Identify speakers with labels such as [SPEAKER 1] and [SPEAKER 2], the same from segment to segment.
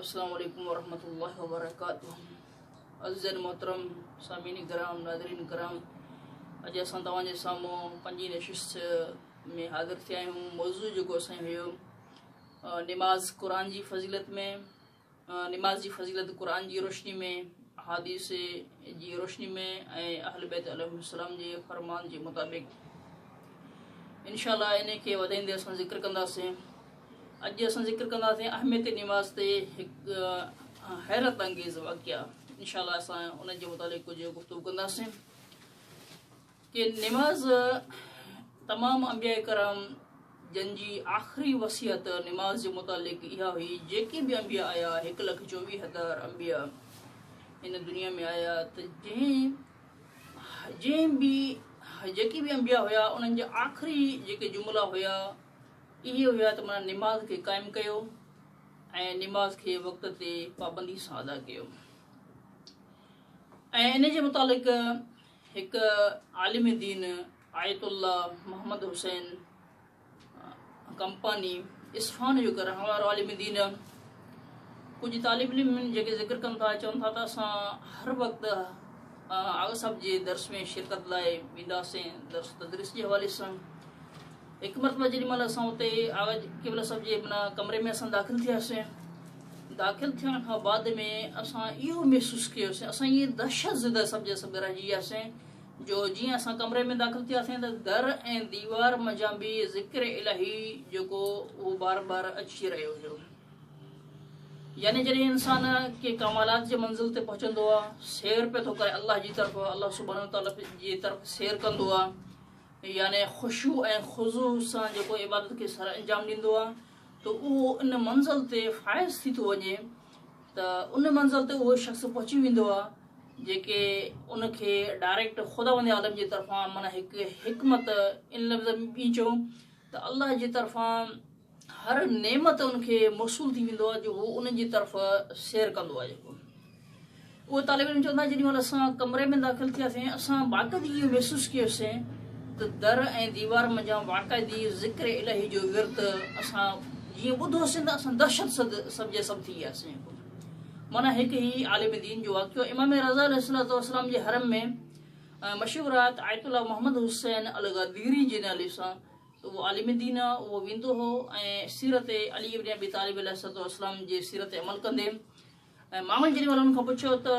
[SPEAKER 1] السلام عليڪم ورحمة الله وبرڪاته عزيزين محترم سامعين ڪرام ناظرين ڪرام اڄ اسان توهان جي سامهون پنجي نشست ۾ حاضر ٿيا آهيون موضوع جيڪو اسان هيو نماز قرآن جي فضيلت ۾ نماز جي فضيلت قرآن جي روشني ۾ حاديث جي روشني ۾ ۽ اهل بيت علم السلام جي فرمان جي مطابق انشاءاللہ ان کي وڌائيندي اسان ذڪر ڪنداسين اڄ اسان ذڪر ڪنداسين اهميت نواز تي هڪ حيرت انگيز واقعا انشاء الله اسان ان جي متعلق ڪجهه گفتگو ڪنداسين کہ نماز تمام انبياء کرام جن جي آخري وصيت نماز جي متعلق اها هئي جيڪي به انبياء آيا هڪ لک چوويهه هزار انبياء هن دنيا ۾ آيا ته جنهن جنهن به جيڪي به انبياء هيا انهن جا آخري جيڪي جملا هيا اهي هيا ته من نماز کي قائم ڪيو ۽ نماز کي وقت تي پابندي سان ادا ڪيو ۽ ان جي متعلق هڪ عالم دين آيت الله محمد حسين ڪمپاني اسفان جو هڪ رهڻ وارو عالم دين ڪجهه طالب علم جيڪي ذڪر ڪن ٿا چون ٿا ته اسان هر وقت آغا صاحب جي درس ۾ شرڪت لاء وينداسين درس تدريس جي حوالي سان هڪ مرتبه جيڏي مهل اسان اتي آغاجي قبله صاحب جي منا ڪمري ۾ اسان داخل ٿياسين داخل ٿيڻ کان بعد ۾ اسان اهو محسوس ڪيوسين اسان ائين دهشت زده سمجهي سڀ رهجي وياسين جو جيئن اسان ڪمري ۾ داخل ٿياسين ته در ۽ ديوار منجهان به ذڪر الهي جيڪو اهو بار بار اچي رهيو هيو يعني جڏهن انسان ڪي ڪمالات جي منزل تي پهچندو آ سير پي ٿو ڪري الله جي طرف الله سبحانه وتعالي جي طرف سير ڪندو آ يعني خشوع ۽ خضوع سان جيڪو عبادت کي سر انجام ڏيندو آهي ته اهو ان منزل تي فائز ٿي ٿو وڃي ته ان منزل تي اهو شخص پهچي ويندو آهي جيڪي ان کي ڊائريڪٽ خداوند عالم جي طرفان معنی هڪ حڪمت ان لفظ ۾ ٻي چون ته الله جي طرفان هر نعمت ان کي موصول ٿي ويندو آهي جو هو ان جي طرف سير ڪندو آهي جيڪو اهو طالب علم چوندا جيڏي مهل اسان ڪمري ۾ داخل ٿياسين اسان باقاعدي اهو محسوس ڪيوسين ته در ۽ ديوار منجهان باقاعدي ذڪر الهي جو ورت اسان جيئن ٻڌوسين ته اسان دهشت سد سب جي سب ٿي وياسين مانا هڪ هي عالم دين جو واقعو امام رضا علیہ السلام والسلام جي حرم ۾ مشهور آيت آيت الله محمد حسين الغديري جي نالي سان اهو عالم دين آ، اهو ويندو هو ۽ سيرت علي ابن ابي طالب عليه الصلوة والسلام جي سيرت تي عمل ڪندي ۽ مامن جڏهن انهن کان پڇيو ته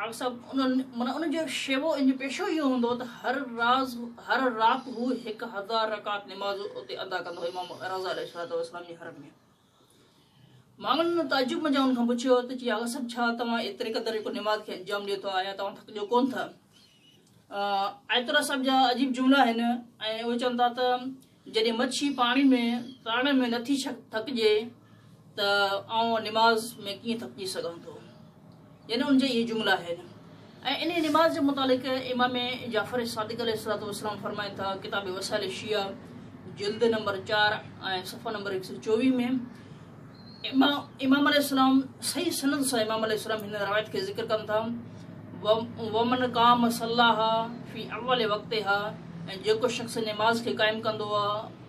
[SPEAKER 1] آغا صاحب انهن معنيٰ ان جو شيوو ان جو پيشو اهو هوندو ته هر راز هر رات هو هڪ هزار رڪعت نماز اتي ادا ڪندو هو امام رضه عليه الصلوة والسلام جي حرم ۾. ماڳن ان تعجب منجهان هن کان پڇيو ته جي آغا صاحب ڇا توهان ايتري قدر هڪ نماز کي انجام ڏيو ٿا يا توهان ٿڪجو ڪون ٿا؟ آيتالله صاحب جا عجيب جملا آهن ۽ اهي چون ٿا ته جڏهن مڇي پاڻي ۾ ترڻ ۾ نٿي ٿڪجي ته آئون نماز ۾ ڪيئن ٿڪجي سگهان ٿو؟ يعني ان جا اهي جملا آهن ۽ انهيء نماز جي متعلق امام جعفر صادق عليه الصلاة والسلام فرمائن ٿا ڪتاب وسائل شيعه جلد نمبر چار ۽ صفحه نمبر هڪ سو چوويهه ۾ امام عليه السلام صحيح سند سان امام عليه السلام هن روايت کي ذڪر ڪن ٿا ومن قام صلاها في اول وقتها ۽ جيڪو شخص نماز کي قائم ڪندو آهي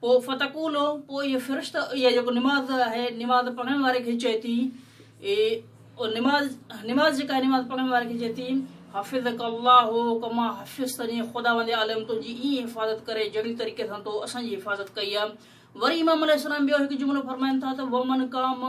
[SPEAKER 1] پوء فتقولو پوء اهي فرشته اهي جيڪو نماز آهي نماز پڙهڻ واري کي چئي ٿي اي او نماز نماز جيڪا آهي نماز پڙهڻ واري کي چئي ٿي حفظك الله ڪما حفظتني خداوند عالم تنهنجي ايئن حفاظت ڪري جهڙي طريقي سان تو اسان جي حفاظت ڪئي آهي وري امام عليه السلام ٻيو هڪ جملو فرمائن ٿا ته ومن قام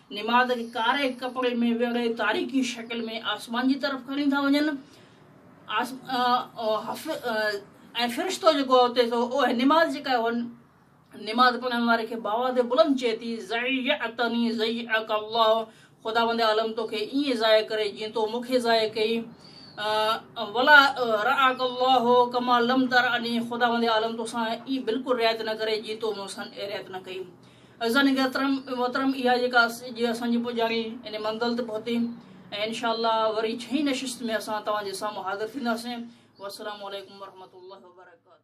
[SPEAKER 1] نماد کي ڪاري ڪپڙي ۾ ويڙهي تاريخي شڪل ۾ آسمان جي طرف کڻي ٿا وڃن ۽ فرشتو جيڪو آهي اتي سو اهي نماد جيڪا آهي اهن نماز پڙهڻ واري کي باواز بلند چئي ٿي زيعتني زيعك الله خداوند عالم تو کي ائين ضايع ڪري جيئن تو مون کي ضايع ڪئي ولا رعاك الله ڪما لم ترعني خداوند عالم تو سان ئي بلڪل رعايت نه ڪري جي تو مون سان رعايت نه ڪئي عزيزان محترم اها جيڪا اڄ اسان جي پڄاڻي ان منزل تي پهتي ۽ انشاء الله وري ڇهين نشست ۾ اسان توهان جي سامهون حاضر ٿينداسين والسلام عليڪم ورحمة الله وبرڪاته.